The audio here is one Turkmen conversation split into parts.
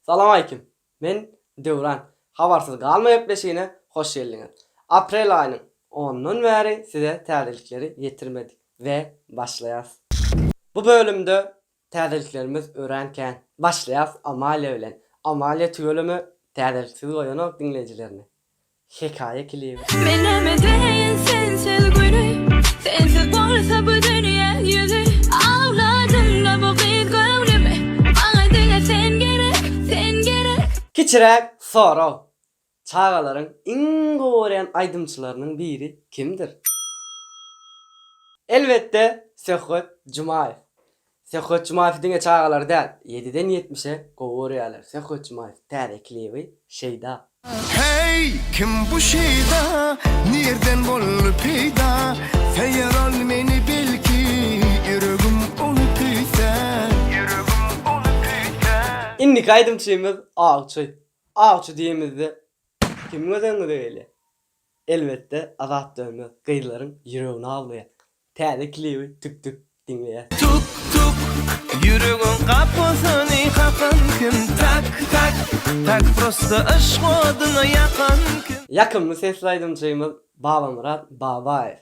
Salam aleýkim. Men Döwran. Habarsyz galma gepleşigine hoş geldiňiz. Aprel aýynyň onundan bäri size täzelikleri ýetirmedik we başlaýas. Bu bölümde täzeliklerimiz örän kän. Başlaýas Amalia bilen. Amalia tüweleme täzeliksiz goýanok diňleýjilerini. Hekaýa klibi. Meneme deýin sensiz güni Sensiz bolsa bu dünýä ýüzi Awladyňda bu gyz göwnümi Maňa diňe sen gerek, sen gerek. Kiçiräk sorag, çagalaryň iň gowy görýän aýdymçylarynyň biri kimdir? Elbetde Söhbet Jumaýew. Söhbet Jumaýewi diňe çagalary däl, ýediden ýetmişe gowy görýärler. Söhbet Jumaýew täze klibi Şeýda. Heý, kim bu Şeýda, nirden boldy peýda, Seýer ol meni belki, ýüregim ony küýsär, ýüregim ony küýsär. Indiki aýdymçymyz Awçy. Awçy diýemizde kimiň özengi beýle. Elbetde Azat Dönmez gyzlaryň ýüregini awlaýar. Täze klibi Tük Tük diňleýäs. Tuk tuk ýüregiň gapysyny kakan kim Tak tak tak prosto yşk odyna ýakan kim. Ýakymly sesli aýdymçymyz Babamyrat Babaýew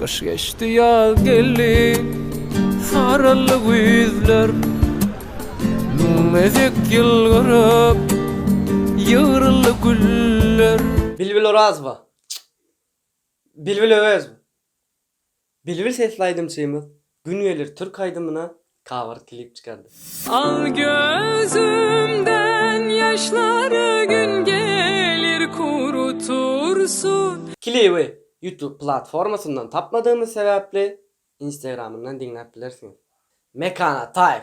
Gyş geçdi ýaz geldi saraldy güýzler Müň gezek ýylgyryp ýygryldy güller. Bilbil Orazowa, Bilbil Öwezova, Bilbil sesli aýdymçymyz Gün gelir türk aýdymyna cover klip çykardy. Al gözümden ýaşlary gün gelir kurutursun. Klibi YouTube platformasyndan tapmadygymyz sebäpli Instagramyndan diňläp bilersiňiz. Mekan Ataýew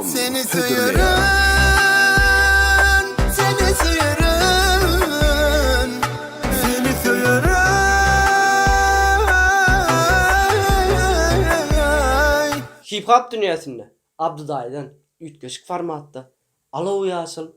Seni söýerin, seni söýerin, seni söýerin. Hip-hop dünýäsinde Abdy daýydan üýtgeşik formatda alow-ýaşyl,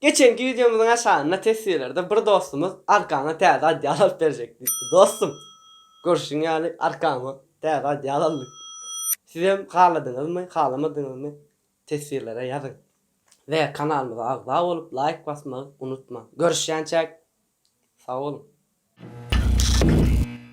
Geçenki wideomyzyň aşagynda teswirlerde bir dostumyz arkaňa täze odýal alyp berjek diýipdi. Dostum! Görşüň ýaly arkama täze odýal aldyk. Sizem haladyňyzmy, halamadyňyzmy teswirlere ýazyň. We kanalymyza agza bolup laýk basmagy unutmaň. Görüşýänçäk! Sag boluň!